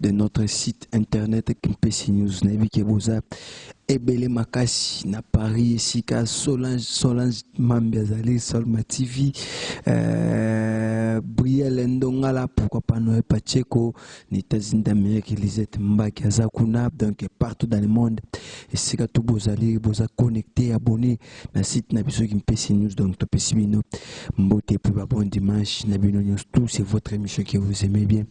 de notre site internet Kimpesi News. Nayebi ke boza ebele makasi na Paris esika Solange Solange Mambi azali Solma TV euh, Brielle Ndongala pourquoi pas Noé Pacheco na États-Unis d'Amérique Lisette Mbaki aza kuna donc partout dans le monde esika tout bozali boza connecté abonné na site na biso kimpese news donc topesi bino mbote mpe ba bon dimanche na bino nyonso tout c'est votre émission que vous aimez bien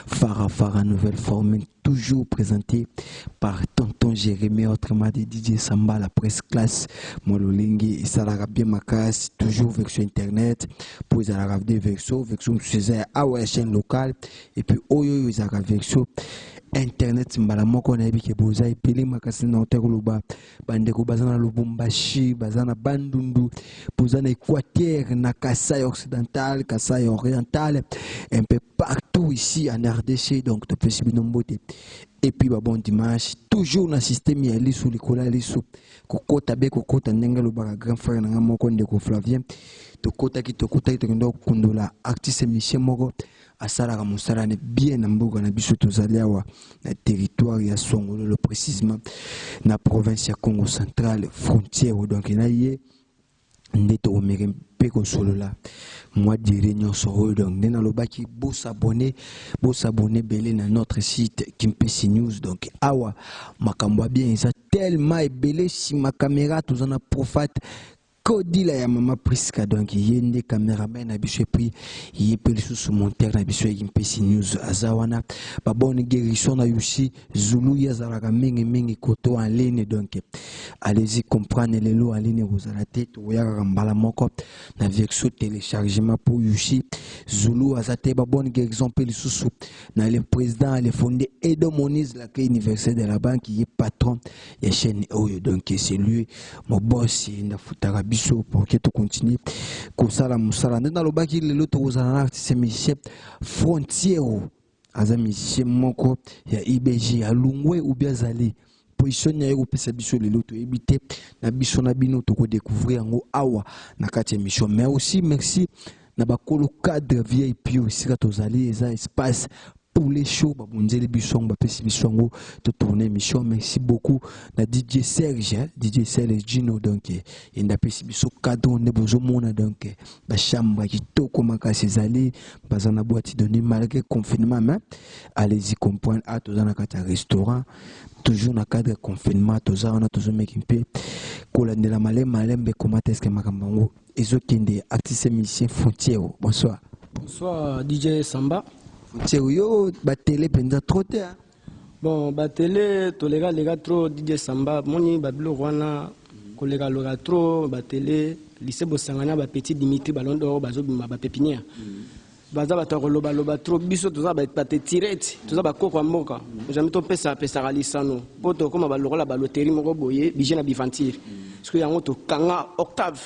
fara fara nouvelle forme toujours présenté par tonton jérémie autrement de dj samba la presse classe mwa lolenge esalaka bien makasi toujours avec sur internet mpo ezalaka de vexo vexo mosusu eza ya awa ya chaîne locale et puis oyo oyo ezalaka vexo internet mbala moko nayebi ke boza ebele makasi na ota koloba bandeko baza na lubumbashi baza na bandundu boza na équateur na kasai occidental kasai oriental un peu partout ici en rdc donc topesi bino mbote epuis babon dimanche toujours na systeme ya lisu likolo ya lisu kokota be kokota ndenge alobaka grand frère na ngai moko ndeko flavien tokotaki tokutaki tokenda kokundola artiste misie moko asalaka mosala ne bien na mboka na biso tozali awa na territoire ya songololo précisement na province ya congo central frontière donc na ye nde tokomeke mpe kosolola mwa dire nyonso oyo donc nde nalobaki bosabone bosabone ebele na notre site kimpesi news donc awa makambo ya bien eza tellement ebele nsima kamera toza na profate kodila ya mama prisca donc ye nde cameraman na biso epuis ye mpe lisusu montere na biso ya mpesi news aza wana babone guerison na yusi zulu ye azalaka mingimingi koto aline donc alezi comprendre lelo aline ekozala te tokoya kaka mbala moko na verso téléchargement mpo yusi zulu aza te babone guerison mpe lisusu na le président le fonde edo monise la clé universel de la banque ye patron ya chaîne oyo donc c'est lui mon boss nda futaka biso pour que tu continue kosala musala nde nalobaki lelo tokozala na artiste musicien frontiero aza musicien moko ya ibg alungwe ou bien azali position na ye kopesa biso lelo toyebi te na biso na bino tokodécouvrir yango awa na kati ya émission mais aussi merci na bakolo cadre vip oyo esika tozali eza espace poulet chaud babonzeli biso yango bapesi biso yango totourne émission merci beaucoup na dj serge hein, dj serge gino donc eh, yende apesi biso cadre nde bozomona donc eh, bachambre ya kitoko makasi ezali baza na boîte de nuit malgré confinement mais allez-y comprendre ah toza na kati ya restaurant toujours na cadre ya confinement toza wana tozomeki mpe kolandela malembe malembe ekomata eske makambo yango ezokende artiste et musicien Fontiero. Bonsoir. Bonsoir DJ Samba. Fontiero yo ba télé penza trop te. Hein? Bon ba télé toleka leka trop DJ Samba moni ba bilo wana koleka loka trop ba télé lycée bosangana ba petit Dimitri Ballon d'Or bazobima ba pépinière. Mm. baza bato ya koloba loba trop biso toza batetirete toza bakoko ya mboka jamai topesa pesaka lisano mpo tokóma balokola baloteri moko boye bije na biventure soki yango tokanga octave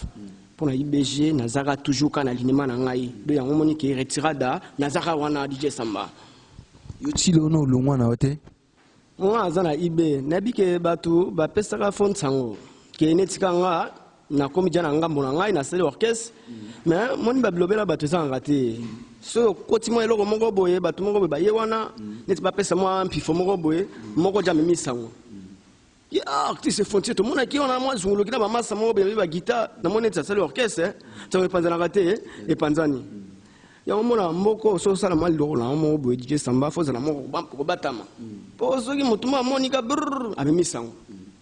mpo na ibg nazaka toujours ka na linima na ngai do yango moni ke retirada nazaka wana dije samba yo tilo no olongwa na yo te Nga aza na IB nayebi ke batu bapesaka fo nsango ke neti ka nga nakomi ja na ngambo na ngai nasali orchestre me moni babilobela bato ezangaka te soki okoti mwa eloko moko boye bato moko boye baye wana neti bapesa mwa mpifo moko boye moko ja amemi nsango Ye ah, artiste frontier tomonaki wana mwa zunguluki na bamasa moko benabi bagita namoni neti asali orchestre eh. ntango epanzanaka te eh. epanzani yango mona mboko soki osala mwa liloko na yango moko boye dj samba fo ozala moko kobatama mpo soki motu moko amonika brr amemisi yango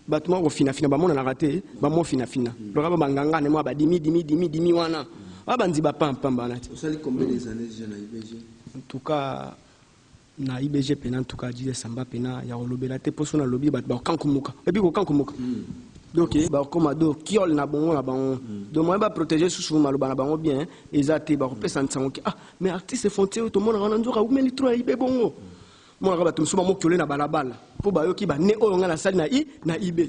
bato moko kofinafina bamonanaka te bamofinafina loka babanganga ne mwa badimi dimi dimi dimi wana oyo banzi bapampamba wana te en tout cas na IBG pena en tout cas Jesus Samba pena ya kolobela te poso na lobi bato bakokankumuka ebi kokankumuka mm. donc eh, bakoma do kiole na bongo na bango mm. donc moyen baprotege susu maloba na bango bien eh, eza te bakopesa mm. nsango ke ah mais artiste fontie oyo tomonaka wana nzoka aumeli tro ya ibe bongo mm. monaka bato mosusu bamokiole na balabala mpo bayoki bane oyo ngai nasali na i na ibe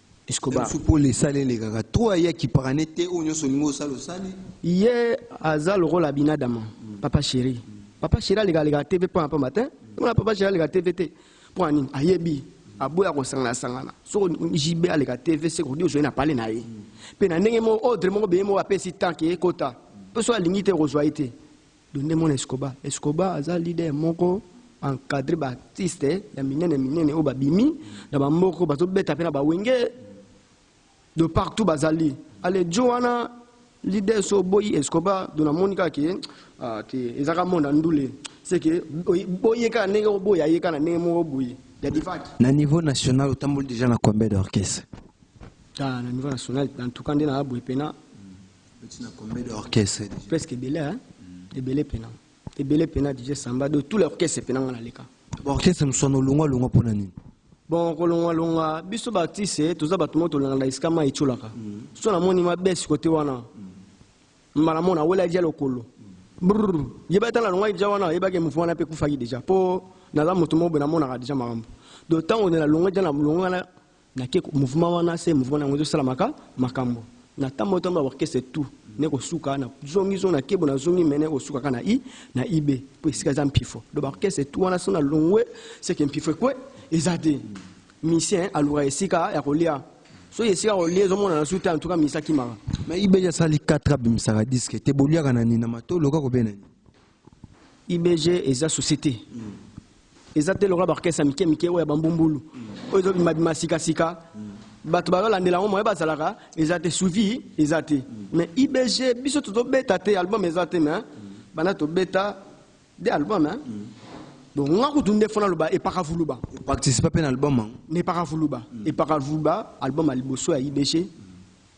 Escobar. Biso pole esali elekaka trop aye akiparane te oyo nyonso olingi osala osali. Ye aza lokola Abinadama, papa chéri. Papa chéri aleka aleka TV pamba pamba te. Wana papa chéri aleka TV te. Mpo na nini? Ayebi aboya kosangana sangana. Soko JB aleka TV se kodi ozoi na pale na ye. Mpe na ndenge moko ordre moko beye moko apesi temps ke ekota. Mpe soki alingi te okozwa ye te. Donde mon escoba? Escoba aza leader moko encadre ba artiste ya minene minene oyo babimi na ba mboko bazobeta mpe na ba wenge de partout bazali alejo wana leader so oboyi escoba do namoni kaka ke ah, te ezaka mona ndule seke boye kaka ndenge oboya ye kaka na ndenge moko boye ya divaki na niveau national otamboli deja na combien d'orchestre ah, na niveau national en tout cas nde na abwe pena presque ebele hein? ebele pena ebele pena dj samba de tout l'orchestre pena nga naleka orchestre mosusu wana olongwa longwa mpo na nini bon kolongwa longwa biso baartiste toza bato moko tolingana esika mai etiolaka mm. so namoni mabesi kote wana mm. mbala mona awela dia lokolo mm. brr yeba ata nalongwaki deja wana yebaki mouvement wana mpe ekufaki deja mpo naza moto moko boye namonaka deja makambo donc ntango nalongwa deja nalongwa Na ke mouvement wana se mouvement na yango ezo sala maka makambo na tambo tambo ya orchestre tout ne ko suka na zongi zongi na kebo na zongi mene ko suka ka na i na ibe po esika eza mpifo do ba orchestre tout wana sona longwe se ke mpifo ekwe eza te musicien aluka esika ya kolia soki esika kolia ezomonana su te en tout cas musicien akimaka mais ibeja asali 4 abimisaka diske te boliaka na nini na matolo kaka obe na nini IBG eza souci te. Eza te lokola ba orchestre ya mike mike oyo ya ba mbumbulu. Oyo ezo bima bima sika sika. Bato bazo landela yango moyen bazalaka eza te suivi eza te. Mais IBG biso tozo beta te album eza te mais banda tobeta de album hein. Donc nga kutu nde fona loba epaka vuluba. O participa pe na album yango? Na epaka vuluba. Epaka vuluba album ya liboso ya IBG.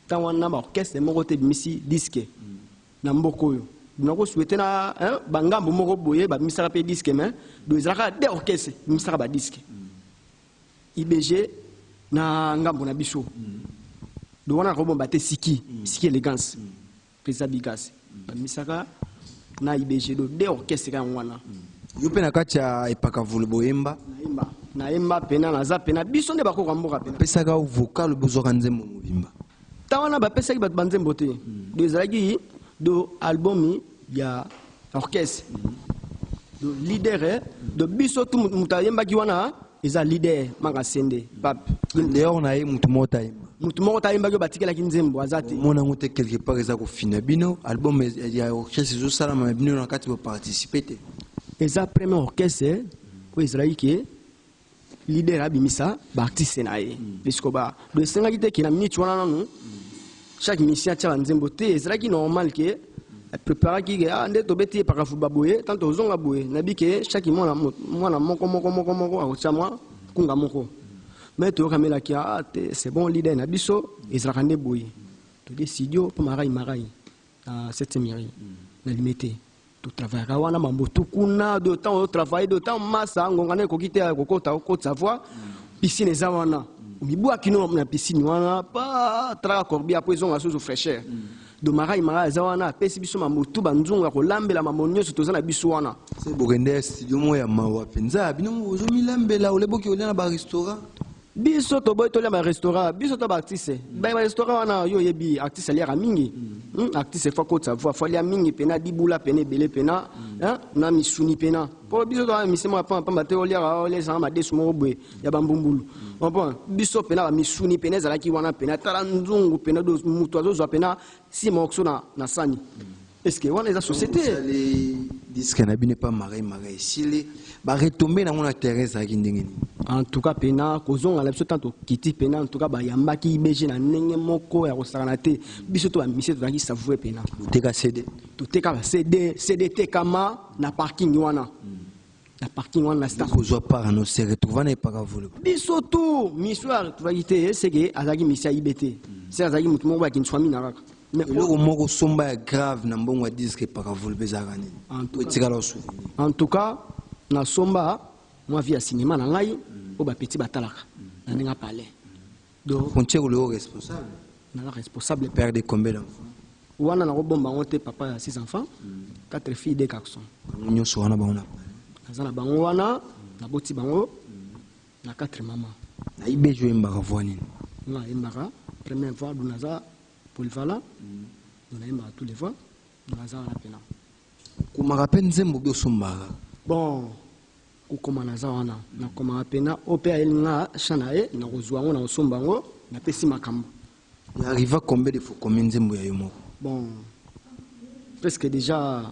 Tango wana ba orchestre moko te ebimisi disque. na mboka oyo nako souhaiter na hein, ba ngambo moko boye ba misaka pe disque mais do ezalaka de orchestre misaka ba disque IBG na ngambo na biso do wana nako bomba te siki siki elegance pesa bigas ba misaka na IBG do de orchestre ka wana yo pe na kati ya epaka vulu boyemba nayemba nayemba pena naza pena biso nde bakoko mboka pena pesaka vocal bozwaka nzembo mobimba Temps wana bapesaki bato banzembo te, do ezalaki do album ya orchestre do leader eh, do biso tu moto ayembaki wana eza leader manga sende pape dehors na ye moto moko tayemba moto moko tayembaki oyo batikelaki nzembo aza te omona yango te quelque part eza kofina bino album ya orchestre ezosalama na bino na kati baparticipe te eza premier orchestre oyo ezalaki ke leader abimisa baartiste na ye mm. esikoba do esengaki te ke na minute wana nanu mm. chaque musicien atya banzembo te ezalaki normal ke eh, préparaki ke ah, nde tobeti ye pakafuba boye tant tozonga boye nayebi ke chaque mwana mwana moko moko moko moko akotya mwa kunga moko me toyokamelaki ah, te c'est bon leader na biso ezalaka nde boye todi studio mpo marai marai na septième mairie na limete totravayaka wana mambotu kuna de temps otravaye de temps masa ngonga na ekoki te ya kokota cote savoir piscine eza wana omibwaki no na piscine wana pa talaka corbia mpo ezonga susu fraîcheur do marai marai eza wana apesi biso mambotu banzungu ya kolambela mambo nyonso toza na biso wana bokende studio moko ya mawa mpenza bino moko bozomilambela oleboki olia na barestaurant biso toboyi tolia ba restaurant biso to ba artiste mm. ba restaurant wana yo yebi artiste aliaka mingi mm. hmm? artiste faut kotsa voix faut lia mingi pena dibula pena ebele pena mm. hein? na misuni pena po biso to misimo ya pamba pamba te oliaka olia ezanga madesu moko boye ya bambumbulu mm. opo biso pena ba misuni pena ezalaki wana pena tala nzungu pena moto azozwa pena si morceau na, na sani mm. Est-ce que wana eza société? Osali disque na bino epa Marie Marie esili ba retombées nango na terrain ezalaki ndenge nini? En tout cas pena kozonga na biso ntango tokiti pena en tout cas bayambaki IBG na ndenge moko ya kosakana te biso to ba musiciens tozalaki savoure pena. Boteka CD? Toteka ba CD, CD etekama na parking wana. na parking wana na star kozwa part no se retrouva na epaka volo biso tu miswar tubaki te seke azalaki misia ibe te se azalaki moto moko bakini swami na kaka eloko moko somba ya grave na mbongo ya diske epaka volo mpe ezalaka nini etikala osouvenir en tout cas na somba mwa vie ya cinéma na ngai oyo bapeti batalaka na ndenge apale Donc frontière ou le responsable na la responsable père de combien d'enfants wana na ko bomba ngo te papa ya 6 enfants 4 mm. filles 2 garçons bango nyoso wana bango na naza na bango wana na boti bango na 4 maman na ibe jo embaka voix nini na embaka première voix duna za polyvalent mm. duna embaka tous les voix duna za wana pena Okomaka pe nzembo obi osombaka? Bon kokoma naza wana nakomaka pena oyo pe ayeli nga chant na ye nakozwa yango nakosomba yango napesi makambo. Na arriva combien de fois okomi nzembo ya yo moko? Bon presque dejà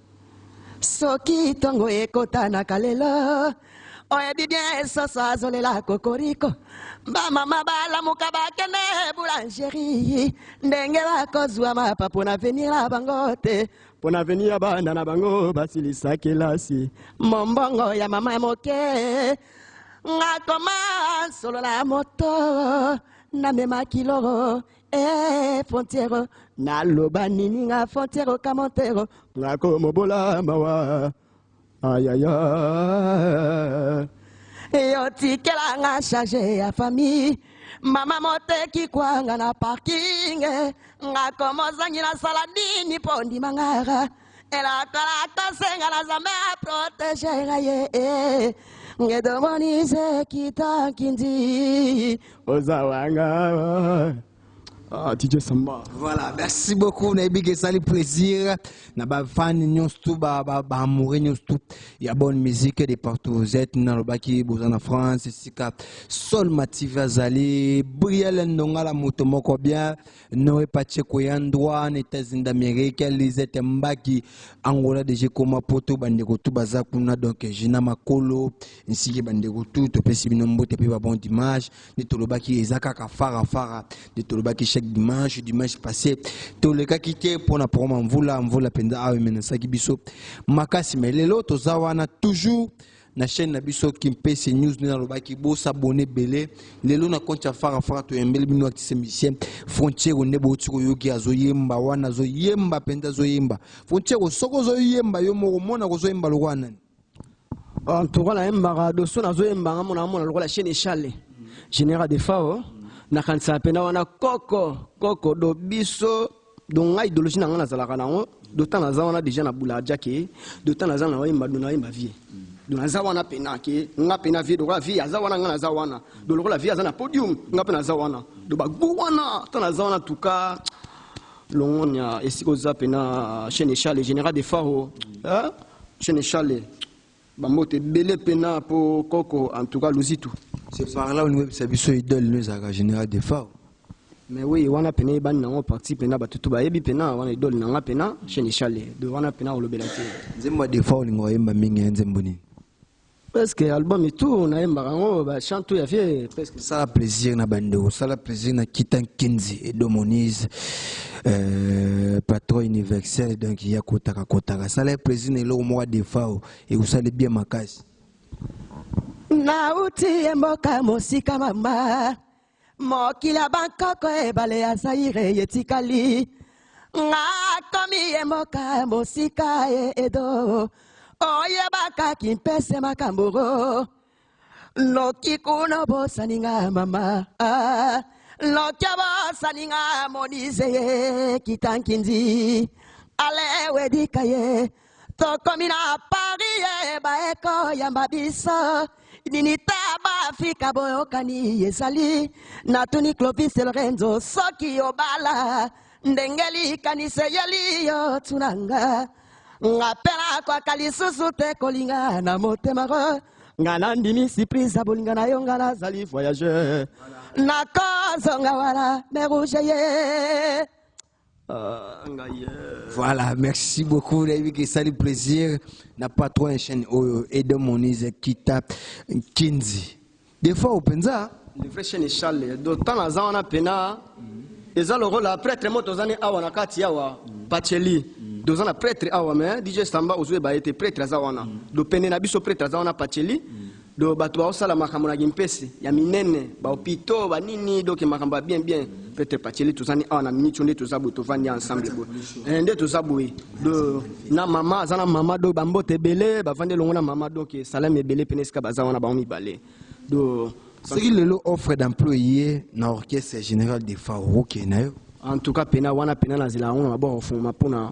soki tongo ekotanaka lelo oyebi bien soso azolela kokoriko bamama balamuka bakende boulangerie ndenge bakozwa mapa mpo na avenir na bango te mpo na avenir ya bana na bango basilisa kelasi mombongo ya mama moke ngakoma solo na moto namema kilo Eh, fontiero, naloba nini nga fontiero kamontero, nga komobola mawa. Ayaya. Yo tikela nga charge ya famille. Mama moteki kwanga na parking. Nga komozangi na sala nini po ndima nga. elakola tosenga na zambe aprotege nga ye eh. ngedomonise kita kindi oza wanga Ah, DJ Samba. Voilà, merci beaucoup. On a que ça le plaisir. Na ba fan nyons tout ba ba ba amoureux nyons tout. Il y a bonne musique de partout. Vous êtes dans le baki bozan en France, sika. Sol Mativa Zali, Brielle Ndonga la moto moko bien. Noé Pacheco ya Ndouane, États-Unis d'Amérique, ya Lisette Mbaki, Angola deje koma poto bandeko tu baza kuna donc Gina Makolo, nsiki bandeko tu topesi bino mbote mpe ba bon dimanche nde tolobaki eza kaka fara fara nde tolobaki chaque dimanche dimanche passé tolekaki te mpo na proma mvula mvula mpenza awa emenesaki biso makasi me lelo toza wana toujours na chaîne na biso kimpese news nde nalobaki bosabone ebele lelo na konti ya farafara toyembeli bino atise musicien frontiero nde bouti koyoki azoyemba wana azoyemba mpenza azoyemba frontiero soki ozoyemba yo moko mona kozoyemba lokola nani antuka nayembaka doso nazoyemba nga mona amona lokola chaine echale général de fao nakanisaka mpenza wana koko koko do biso donc ngai idologie na ngai nazalaka na yango dotan naza wana deja na bula aja ke dotan naza na oyemba do nayemba vie do naza wana mpena ke nga mpena vie lokola vie aza wana nga naza wana do lokola vie aza na podium nga mpe naza wana do bagu wana ta naza wana tuka longonya esika oza mpena chaine echale général de faro chaine echale Ba mbote ebele pena po koko en tout cas Luzitu. C'est par là on webisa biso idole no ezalaka général de fao. Mais oui wana pena eyebani nango parti pena bato tout bayebi pena wana idole na nga pena chaine eshale do wana pena kolobela te. Nzembo ya Defao olinga oyemba mingi ya nzembo nini? Presque album et tout nayembaka yango ba chant tout ya vie presque. Sala plaisir na bandeko, sala plaisir na Kita Nkinzi et Domonize. Euh, patron universel donc ya kotaka kotaka sala ye président eloko moko adefao ekusali bien makasi nauti ye mboka mosika mama mokili ya bankoko ebale ya zaire etikali nga akomi ye mboka mosika ye edo oyebaka kimpese makambo noki kuna bosani nga mama ah, noki abosani nga monise ye kitankindi alewedika ye tokomi na pari ye baeko yamba biso nini te baafrika boyokani ezali natuni clovis lorenzo soki obala ndenge likanisi eyeli yo tunanga nga mpe nakoka lisusu te kolinga na motema ko nga nandimi surprise ya bolinga na yo nga nazali voyageur nakozonga wana mer rouge ye ah, voilà merci beaucoup nayebi ke esali plaisir na patron ya chaîne oyo edon monise kita kinzi Defao penza. Le vrai chien est Charles. Do temps naza wana pena. Eza lokola prêtre moto ozani awa na kati awa. Pacheli. Doza na prêtre awa mais DJ Samba ozwe ba ete prêtre aza wana. Do pene na biso prêtre aza wana Pacheli. Do bato ba osala makambo na gimpesi ya minene, ba hopitaux, ba nini donc makambo ya bien bien. Peter Pacheli toza ni awa na minute nde toza boye tovandi ensemble boye eh, nde toza boye do na mama aza na mama do bambote ebele bavandi elongo na mama donc esalami eh, ebele pene esika baza wana bango mibale do soki lelo offre d'emploi ye na orchestre général de faro okende na yo en tout cas pena wana pena nazela yango na maboko ofungama mpona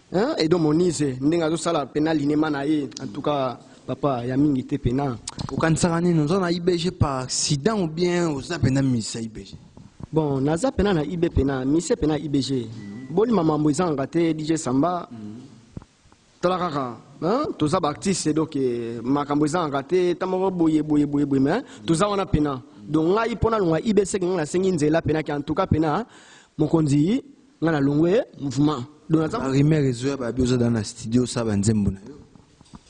Hein, Edo Monize ndenge azosala pena linema na ye en tout cas papa ya mingi te pena. Okanisaka nini oza na IBG par accident ou bien oza pena misa IBG? Bon naza pena na IB pena misa pena IBG bolima mambo ezangaka te DJ Samba tala kaka hein, toza ba artiste donc eh, makambo ezangaka te ta moko boye boye boye boye mais toza wana pena donc ngai mpo nalonga IB seke ngai nasengi nzela pena ke en tout cas pena mokonzi nga na longwe mouvement donc naza ba rumeur ezoya babi oza dans na studio sa ba nzembo na yo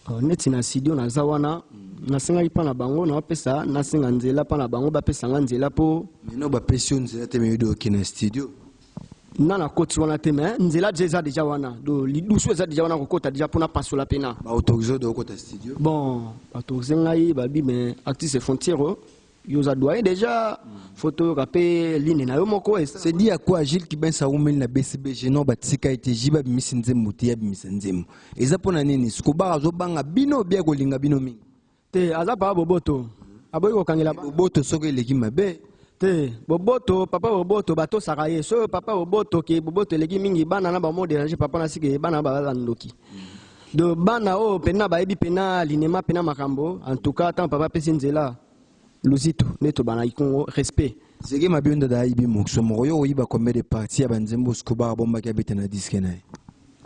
oh, neti na studio naza wana nasengaki mpa na bango naopesa nasenga nzela mpa na bango bapesa nga nzela mpo mino bapesi yo nzela te meyodi oke na studio na nakoti wana te me nzela deja eza deja wana do lidusu eza deja wana kokota deja mpo napasola mpena baautorise oyo okota studio bon baautorise ngai babi me actrice frontiere Yo oza doyen dejà faut toyoka pe ligne na yo moko C'est dit à quoi Gilles Kibens awumeli na BCBG non batika ye te JB abimisi nzembo te ye abimisa nzembo eza mpo na nini Scobar azobanga bino bia kolinga bino mingi te aza papa boboto aboyi kokangela boboto soko eleki mabe te boboto papa boboto batosaka ye soyo papa boboto ke boboto eleki mingi bana na bango moderange papa na sike bana na baza ndoki do bana oyo pena bayebi pena linema pena makambo en tout cas tant papa pesi nzela luzitu nde tobana ikongo respect zege mabe ndada ayibi mokso moko yo oyiba combien de partie ya banzembo scobar abombaki abeta na diske na ye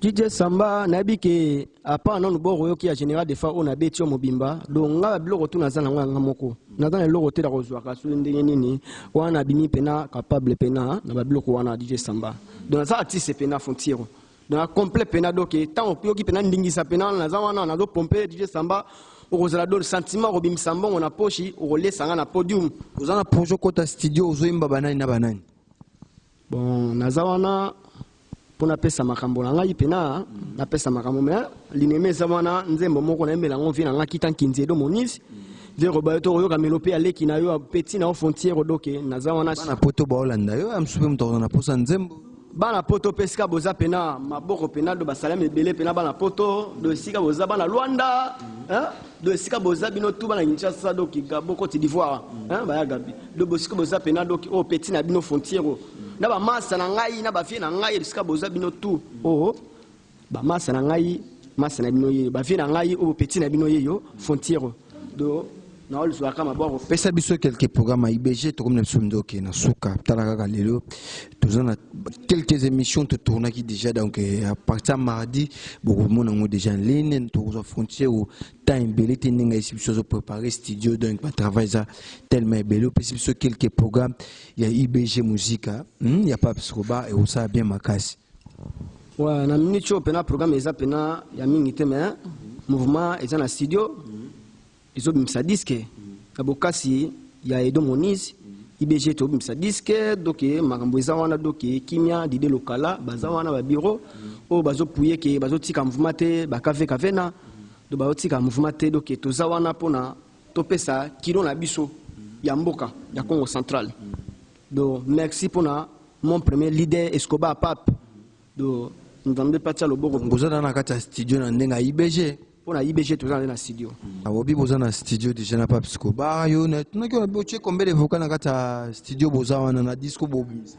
DJ Samba nayebi ke apa nanu boko yoki ya général de fa oyo nabeti yo mobimba donc nga biloko tu naza nango yanga moko naza na eloko te na kozwaka soki ndenge nini wana nabimi pena capable pena na babiloko wana DJ Samba donc naza artiste pena fontiro na complet pena donc ntango oyoki pena ndingisa pena wana naza wana nazo pompe dj samba okozala do sentiment okobimisa mbongo na poshi okolesa nga na podium oza na projet okota studio ozoyemba banani na banani bon naza wana mpo napesa makambo na ngai pena napesa makambo me linema eza wana nzembo moko nayembela yango vie na ngai kita nkinzi edo monisi zero bayo to oyoka melo mpe aleki na yo peti na yo frontiere odoke naza wana na poto baolanda yo ya mosusu mpe moto akozana mposa nzembo bana poto mpe esika boza mpe na maboko mpe na do basalami ebele mpe na bana poto do esika boza bana lwanda do esika boza bino tu bana kinshasa do kigabo cote d'ivoire baya gabi do bosika boza mpe na do oyo oh, peti na bino fontiero na bamasa na ngai na bafie na ngai esika boza bino tu oo oh, oh. Ba masa na ngai, masa na bino yeyo, ba vieux na ngai oyo petit na bino yeyo, Fontiero do na olzwa kama boro. Pesa biso quelques programmes ya IBG tokomi na biso ndoki na suka tala kaka lelo toza na quelques émissions to tournaki déjà donc eh, à partir ya mardi bokomona yango déjà en ligne tokozwa frontière o temps ebele te ndenge ayesi biso azo préparer studio donc ba travail eza tellement ebele opesi biso quelques programmes ya IBG musique ah, hmm, ya Pape Scoba ekosala bien makasi Ouais, na minute oyo mpena programme eza mpena ya mingi te mais mouvement eza na studio ezobimisa diske na bokasi ya edo monise ibg tobimisa diske doke makambo eza wana doke kimia dide lokala baza wana babiro oyo bazopuye ke bazotika mouvement te bakavekavena do bazotika mouvement te doke toza wana mpona topesa kilo na biso ya mboka ya congo central Do merci pona mon premier leader Escobar Pape. Do Nzambe patia loboko. Boza na na kati ya studio na ndenge ya IBG. Pona IBG toza na na studio. Abobi boza na studio déjà na Pape Escobar yo na tunaki yo bo tie combien de vocal na kati ya studio boza wana na disco bo bimisa.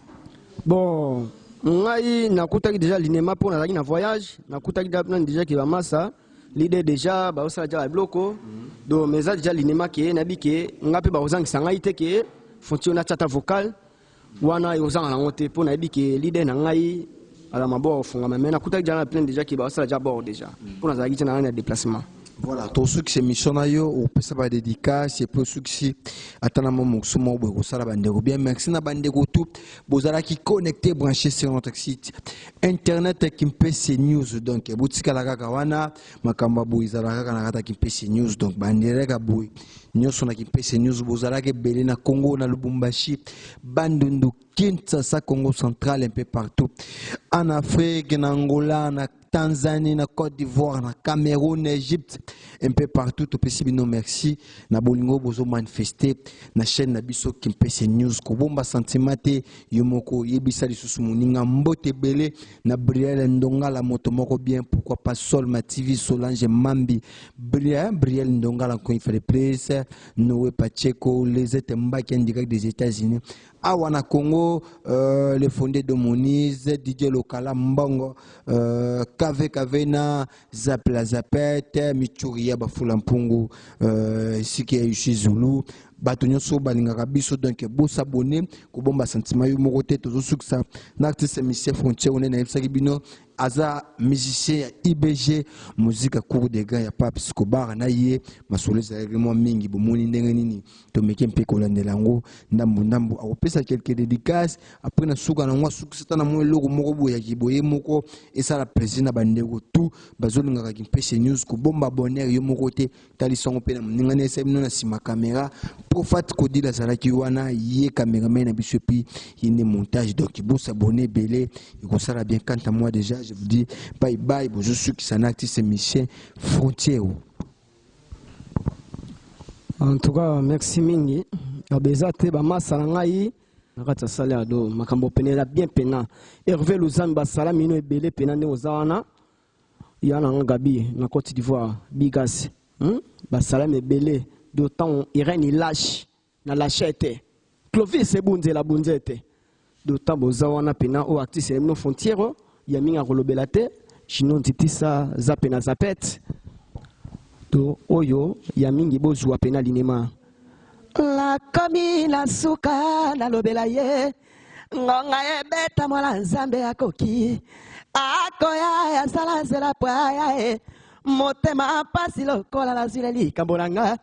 Bon ngai nakutaki deja linema mpo nazalaki na voyage nakutaki nani deja ke bamasa lide deja bazosala ja babiloko do mais eza deja linema ke nayebi ke ngai mpe bakozangisa ngai te ke fonti oyo natya ata vocal wana ekozanga nango te mpo nayebi ke lide na ngai ala maboko ofungama mais nakutaki ja na plaine deja ke bazosala ja bord deja mpo nazalaki te na ngai na déplacement voilà tosukisa émission na yo opesa ba dédicace epuis osukisi ata na mwa mokusu moko boye kosala bandeko bien merci na bandeko tout bozalaki connecté branché sur notre site internet kimpese news donc botikala kaka wana makambo ya boye ezalaka kaka na kata kimpese news donc bandireka boye nyonso na kimpese news bozalaka ebele na congo na lubumbashi bandundu kinshasa congo central un peu partout en afrique na angola na tanzanie na côte d'ivoire na cameroun na egypte un peu partout topesi bino merci na bolingo bozomanifeste na chaîne na biso kimpese news kobomba sentiment te yo moko yebisa lisusu moninga mbote ebele na briel ndongala moto moko bien pourquoi pas sol ma tv solange mambi briel briel ndongala encore une fois de plus noe pacheco les ete mbaki en direct des états unis awa na congo euh, le fondé de monise didier lokala mbongo euh, kave kave na zapla zapet mitshuri ya bafula mpungu euh, esika ya yushi zulu bato nyonso balingaka biso donk bosabone kobomba sentiment yo moko te tozosukisa na artiste misie frontier one nayebisaki bino aza musicien ya ibg muzika cour de grand ya pape scobar na ye masolo ezalaki mwa mingi bomoni ndenge nini tomeke mpe kolandela yango ndambo ndambo akopesa quelque dédicace après na suka na yango asukisa ata na mwa eloko moko boye ya kiboye moko esala plaisir na bandeko tout bazolingaka kimpese news kobomba bonheur yo moko te talisa yango mpe na moningani esali bino na nsima kamera profat kodila azalaki wana ye cameraman na biso epi ye nde montage donc bosabone ebele ekosala bien kanta moi déjà je vous dis bye bye bozosukisa na artiste musicien frontière En tout cas, merci mingi. Abeza te ba masa na ngai na kati ya sale ya do makambo pene la bien pena. Hervé Luzambi basala mino ebele pena nde oza wana. Ya na Gabi na Côte d'Ivoire, Bigas. Hmm? Basala mebele d'autant Irène Ilash. Na lache te. Clovis ebunzela bunze te. D'autant boza wana pena o actrice ya bino Fontiero ya mingi akolobela te. Chino Ntitisa za pena zapet. To oyo ya mingi bozua pena linema. Nakomi na suka nalobela ye. Ngonga ebeta mwana Nzambe akoki. Akoya asala nzela po aya e. Motema mpasi lokola nazwi na likambo na nga.